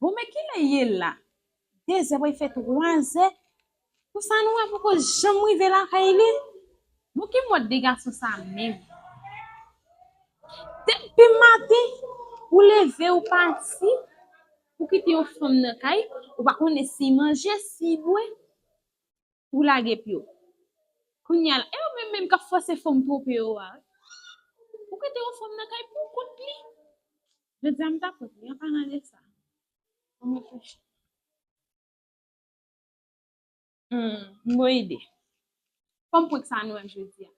Bon men kilè ye la? Dezè pral fè twazè. Pou sa nou wè poko janm rive lakay li. Bon ki mòd de gason sa menm? Depi maten ou leve ou pati ou kite yon fanm nan kay ou pa konnen si manje, si bwe. Ou lage pyo. Kounya la e ou menm menm kap fòse fanm twope yo a wi. Ou kite yon fanm nan kay pou kont li. Jodi a m ta pot li an palan de sa. An mwen fèchè. Humm bon ide. Fanm prank sa nou wè jodi a.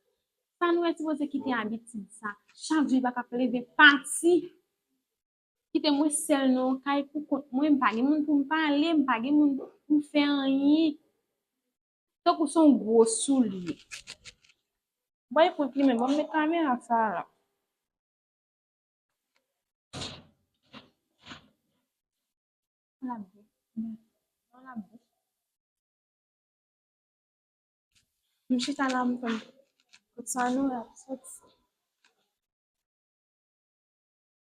Sa nou wè sipoze kite abitid sa. Chak jou li paka plede pati. Kite mwen sèl nan yon kay pou kont mwen, m pa gen moun pou m pale, m pa gen moun pou m fè anyen. Tankou se yon gwo soulye. Mwen epou ki men, mwen met kamera sa a la. M chita la m tann. Kot sa nou la soti.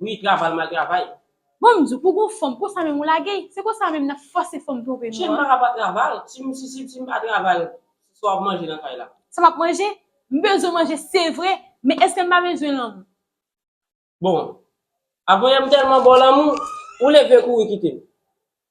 Wi travay mal travay. Bon m di w pou gon fanm konsa menm ou lage l se konsa menm nap fòse fanm twonpe nou an. Chema a pa travay si m si si m pa travay sa wap manje nan kay la. Sa map manje? M bezwen manje se vre men eske m pa bezwen lanmou? Bon. Avoye m tèlman ba w lanmou ou leve kouri kite m.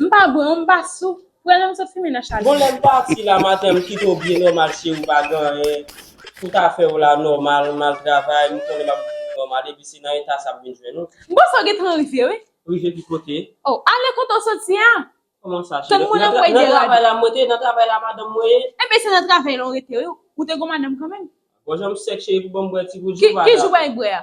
M pa bwè ou m pa sou. Prè lèm sot fimen nan chal Bon mwen. lèm pati la maten m kitew byen nòmal cheri pa gen anyen pou ta fè ou la nòmal mal travay m konnen map viv nòmal epi se nan eta sa m vin jwenn ou. M panse w gentan rive wi. Rive ki kote? Oh ale kote w soti a. Kòman sa cheri? Tann mwen nan pway derad. Nan travay la mwen te, nan travay la madanm mwen ye. Ebyen se nan travay la ou rete wi, ou te gon madanm kanmenm. Bon jan m sèk cheri pou banm bwè ti gout jou pa ale avèm. Ki jou w pral bwè a?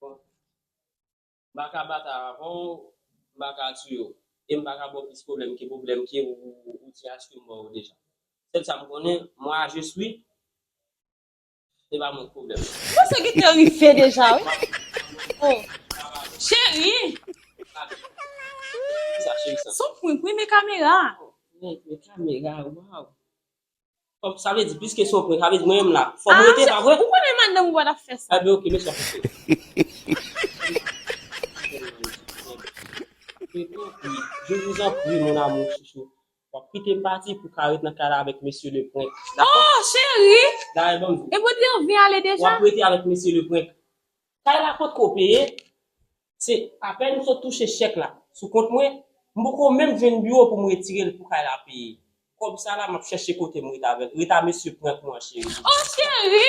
Bon. M pa ka batay avè w, m pa ka touye w. E m pa ka ba w plis pwoblèm ke pwoblèm ke ou te achte m ba w yo deja. Sèl sa m konnen, mwa a jis wi. Se pa mwen ki pwoblèm nan. Bon sa gen tan rive deja wi. O, cheri! Kisa cheri sa? S on prank wi men kamera a. O, prank men kamera a, waw! Fòm sa vle di plis kesyon pwen, sa vle di mwen menm la. Fòm mwen rete pa vre? Ou konnen madanm ou pa tap fè sa. Ebyen ok mesi ap koute. Je vous en prie mon amour chouchou wap kitem pati pou ka ret nan kay la avèk mesye le prank dako. Oh cheri! Dayè banm di. Ebyen ou te anvi ale deja? Wap rete avèk mesye le prank. Kay la potko peye. Se apèn m sot touche chèk la sou kont mwen, m poko menm jwenn biwo pou m retire l pou kay la peye. Kòb sa la m ap chèche kote m ret avè l. Rita mesye prank mwen an cheri. Oh cheri.